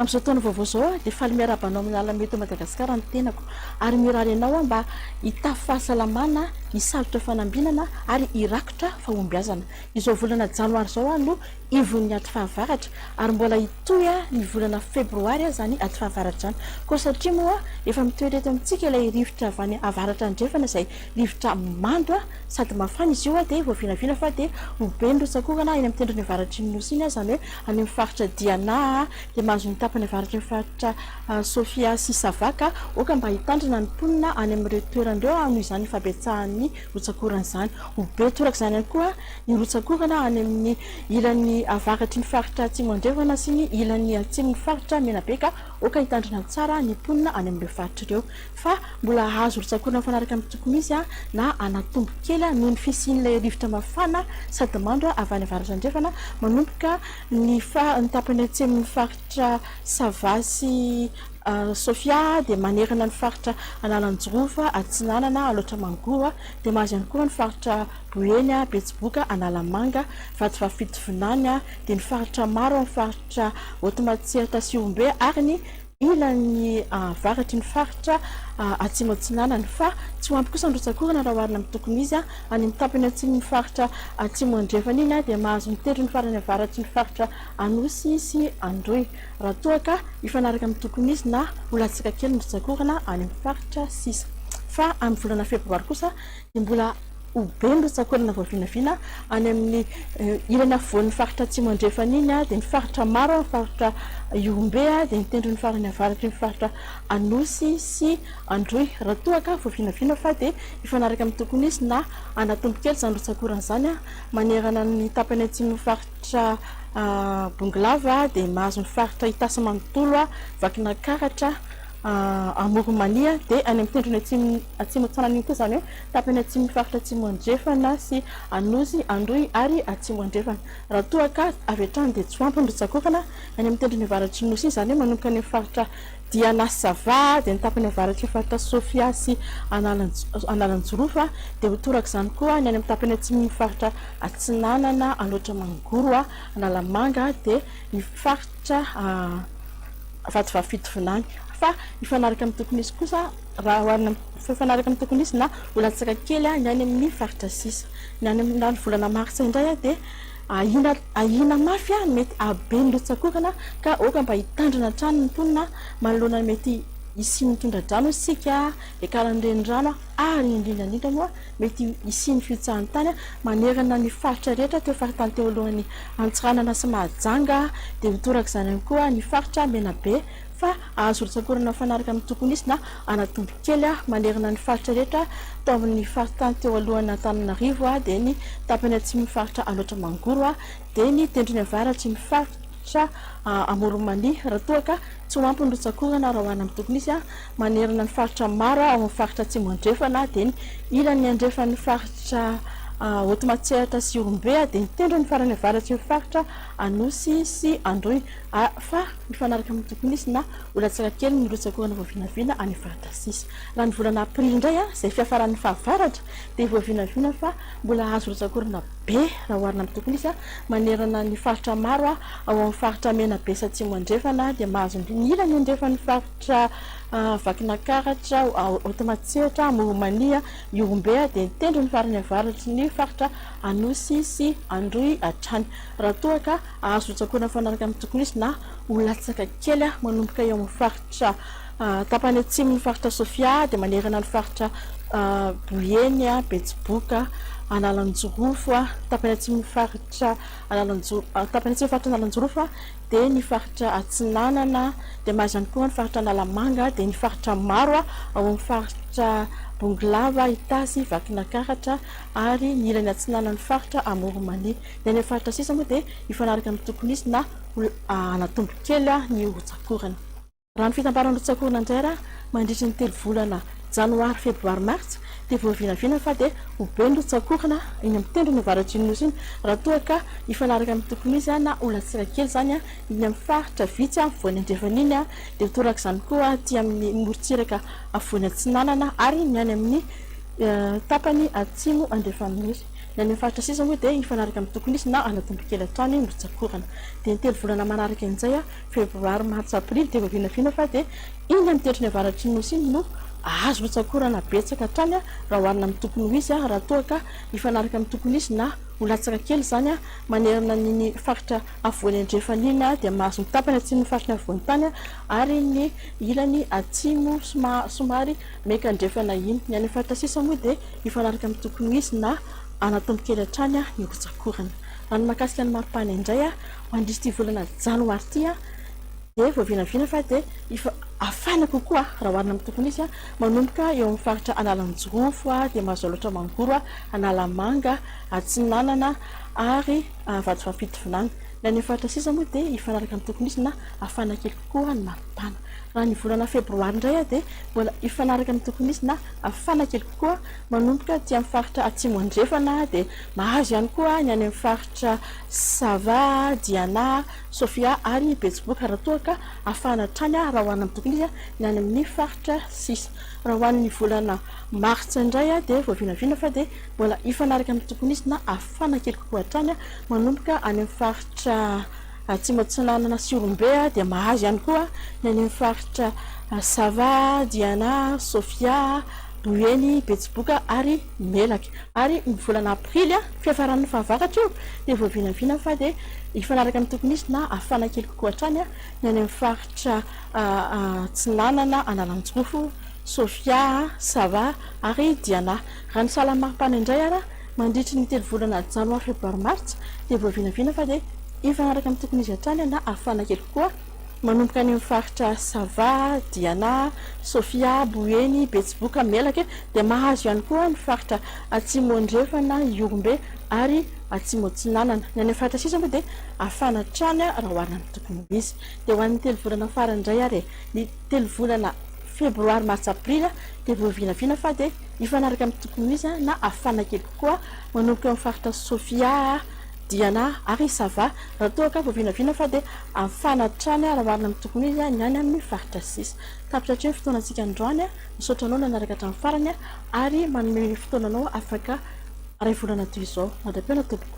amin'izao taona vaovao izao dia faly miarahaba anao amin'ny alamety ao Madagasikara ny tenako ary mirary anao aho mba hitafy fahasalamana hisalotra fanambinana ary hirakitra fahombiazana izao volana janoary izao aho no ivon'ny aty fahavaratra ary mbola hitohy ny volana febroary aza ny aty fahavaratra izany koa satria moa efa mitoetra eto amintsika ilay rivotra avy any avaratra andrefana izay rivotra mando sady mafana izy io dia voavinavina fa dia ho be ny rotsak'orana eny amin'ny tendrony avaratry ny nosy iny izany hoe any amin'ny faritra diana dia mahazo ny tapany avaratry ny faritra sofia sy savaka aoka mba hitandrina ny mponina any amin'ireo toerana ireo noho izany ny fahabetsahan'ny Rotsak'orana izany. Ho be toraka izany ihany koa ny rotsak'orana any amin'ny ilan'ny avaratry ny faritra Atsimo Andrefana sy ny ilan'ny atsimon'ny faritra Menabe ka oaka hitandrina tsara ny mponina any amin'ireo faritra ireo fa mbola hahazo rotsak'orana mifanaraka amin'ny tokony izy na hanatombo kely noho ny fisian'ilay rivotra mafana sady mando avy any Avaratra Andrefana manomboka ny tapany atsimon'ny faritra Sava sy Sofia dia manerana ny faritra Analanjirofo Atsinanana, Alaotra Mangoro, dia mahazo ihany koa ny faritra Boeny, Betsiboka, Analamanga, Vatovavy-Fito Vinany, dia ny faritra maro ao amin'ny faritra Haute-Matsiatra sy Ihombe ary ny ilany avaratry ny faritra Atsimo Atsinanana fa tsy ho ampy kosa ny rotsak'orana raha oharina amin'ny tokony izy any amin'ny tapany atsimon'ny faritra Atsimo Andrefana iny dia mahazo ny tendrony farany avaratry ny faritra Anosy sy Androy Raha toa ka hifanaraka amin'ny tokony izy na ho latsaka kely ny rotsak'orana any amin'ny faritra sisa. Fa amin'ny volana febroary kosa dia mbola ho be ny rotsak'orana vao vinavina any amin'ny ilany afovoan'ny faritra atsimo andrefana iny dia ny faritra maro amin'ny faritra Ihorombe dia ny tendrony farany avaratry ny faritra Anosy sy Androy. Raha toa ka vao vinavina fa dia hifanaraka amin'ny tokony izy na hanatombo kely izany rotsak'orana izany manerana ny tapany atsimon'ny faritra. Faritra Bongolava dia mahazo ny faritra Itasy manontolo, Vakinankaratra, Amoronmania dia any amin'ny tendrony atsimo atsimo antsinana iny koa izany hoe tapany atsimon'ny faritra Atsimo Andrefana sy Anosy Androy ary Atsimo Andrefana. Raha toa ka avy hatrany dia tsy ho ampy ny rotsak'orana any amin'ny tendrony avaratr'i Nosy iny izany hoe manomboka any amin'ny faritra dia lasa vady any tapany avaratr'io faritra Sofia sy Analanjirofo, dia ho torak'izany koa ny any amin'ny tapany atsimon'ny faritra Atsinanana, Alaotra Mangoro, Analamanga, dia ny faritra Vatovavy Fitovinany. Fa mifanaraka amin'ny tokony hisy kosa, raha oharina amin'ny, mifanaraka amin'ny tokony hisy na ho latsaka kely ny any amin'ny faritra sisa. Ny any amin'ny volana martsa indray dia. Ahiana ahiana mafy a, mety ahabe ny lotsakorana ka aoka mba hitandrina hatrany ny mponina manoloana ny mety hisian'ny tondra-drano isika hiakaran'ny renirano ary indrindra indrindra moa mety hisian'ny fihotsahan-tany manerana ny faritra rehetra teo faritany teo alohan'ny Antsiranana sy Mahajanga dia mitoraka izany ihany koa ny faritra Menabe fa azo rotsakorana mifanaraka amin'ny tokony hisy na hanatombo kely manerana ny faritra rehetra tao amin'ny faritany teo alohan'Antananarivo dia ny tapany atsimon'ny faritra Alaotra Mangoro dia ny tendrony avaratsy ny faritra Amoron'i Mania raha toa ka tsy ho ampy ny rotsakorana raha hoarina amin'ny tokony hisy manerana ny faritra maro ao amin'ny faritra Atsimo Andrefana dia ny ilany andrefan'ny faritra Haute Matsiatra sy Ihorombe dia ny tendrony farany avaratsy ny faritra Anosy sy Androy A Fa mifanaraka amin'ny tokony izy na ho latsaka kely ny rotsaka orana voavinavina any Vardasisa. Raha ny volana aprily indray izay fiafaran'ny fahavaratra dia voavinavina fa mbola hahazo rotsaka orana be raha oharina amin'ny tokony izy manerana ny faritra maro ao amin'ny faritra Menabe sy Atsimo Andrefana dia mahazo ambiny ilany andrefan'ny faritra Vakinankaratra, Haotomatsehatra, Amoromania, Ihorombe dia ny tendrony farany avaratry ny faritra Anosy sy Androy hatrany raha toa ka Azo hotsakoana mifanaraka amin'ny tokony hisy na ho latsaka kely manomboka eo amin'ny faritra tapany atsimon'ny faritra Sofia dia manerana ny faritra Boeny, Betsiboka, Analanjirofo, tapany atsimon'ny faritra Analanjirofo, tapany atsimon'ny faritra Analanjirofo dia ny faritra Atsinanana, dia mahazo ihany koa ny faritra Analamanga, dia ny faritra maro ao amin'ny faritra Bongolava, Itasy, Vakinakaratra ary ny ilany atsinanan'ny faritra Amoronmanitra. Ny any amin'ny faritra sisa moa dia mifanaraka amin'ny tokony hisy na ho hanatombo kely ny rotsakorana. Raha ny fitambaran'ny rotsakorana indray ara mandritry ny telo volana janoary, febroary, martsa dia voavinavina fa dia ho be ny rotsakorana eny amin'ny tendrony avaratr'iny nosy iny raha toa ka hifanaraka amin'ny tokony hisy na ho latsaka kely izany eny amin'ny faritra vitsy afovoany andrefan'iny dia ho torak'izany koa aty amin'ny morontsiraka afovoany atsinanana ary ny any amin'ny tapany atsimo andrefan'ny nosy. Ny any amin'ny faritra sisa moa dia hifanaraka amin'ny tokony hisy na hanao tombo kely atoany no tsakorana. Dia ny telo volana manaraka iny izay, febroary, martsa, aprily, dia vao vinavina fa dia iny amin'ny tendrony avaratry ny Nosy iny no azo hotsakorana betsaka hatrany raha oharina amin'ny tokony ho izy raha toa ka hifanaraka amin'ny tokony hisy na ho latsaka kely izany manerana an'iny faritra afovoany andrefana iny dia mahazo ny tapany atsimon'ny faritry ny afovoantany ary ny ilany atsimo somary Meka andrefana iny. Ny any amin'ny faritra sisa moa dia mifanaraka amin'ny tokony ho izy na anatombo kely hatrany ny rotsak'orana. Raha ny mahakasika ny maripana indray, ho an'ity volana janoary ity dia vao vinavina fa dia efa hafana kokoa raha oharina amin'ny tokony ho izy. Manomboka eo amin'ny faritra Analanjirofo dia mazao loatra Mangoro, Analamanga, Atsinanana ary Vatovampidivinany. Ny any amin'ny faritra sisa moa dia hifanaraka amin'ny tokony ho izy na hafana kely kokoa ny maripana. Raha ny volana febroary indray aho dia mbola hifanaraka amin'ny tokony hisy na hafana kely kokoa manomboka aty amin'ny faritra atsimo andrefana dia mahazo ihany koa ny any amin'ny faritra Sava, Diana, Sofia ary Betsiboka raha toa ka hafana hatrany raha hoarina amin'ny tokony hisy ny any amin'ny faritra sisa. Raha ho an'ny volana martsa indray dia vao vinavina fa dia mbola hifanaraka amin'ny tokony hisy na hafana kely kokoa hatrany manomboka any amin'ny faritra Atsimo Atsinanana sy Ihorombe dia mahazo ihany koa ny any amin'ny faritra Sava, Diana, Sofia, Boeny, Betsiboka ary Melaky. Ary ny volana aprily, fiafaran'ny fahavakatra io, dia voavinavina fa dia hifanaraka amin'ny tokony hisy na hafana kely kokoa hatrany ny any amin'ny faritra Atsinanana, Analanjirofo, Sofia, Sava ary Diana. Raha ny sahalan'ny maripana indray ary. Mandritry ny telo volana janoary febroary martsa dia voavinavina fa dia hifanaraka amin'ny tokony izy hatrany na hafana kely kokoa manomboka any amin'ny faritra Sava, Diana, Sofia, Boeny, Betsiboka, Melaky dia mahazo ihany koa ny faritra Atsimo Andrefana, Ihorombe ary Atsimo Atsinanana. Ny any amin'ny faritra sisa moa dia hafana hatrany raha oharina amin'ny tokony ho izy. Dia ho an'ny telo volana farany indray ary e! Ny telo volana febroary, martsa, aprily dia voavinavina fa dia. hifanaraka amin'ny tokony ho izy aho na hafana kely kokoa manomboka eo amin'ny faritra Sofia aho, Diana ary Sava raha toa ka voavinavina fa dia hafana hatrany raha oharina amin'ny tokony ho izy ny any amin'ny faritra sisa. Tapitra hatreto ny fotoanantsika androany, misaotra anao nanaraka hatramin'ny farany ary manome fotoana anao afaka iray volana toy izao. Mandra-pihaona tompoko.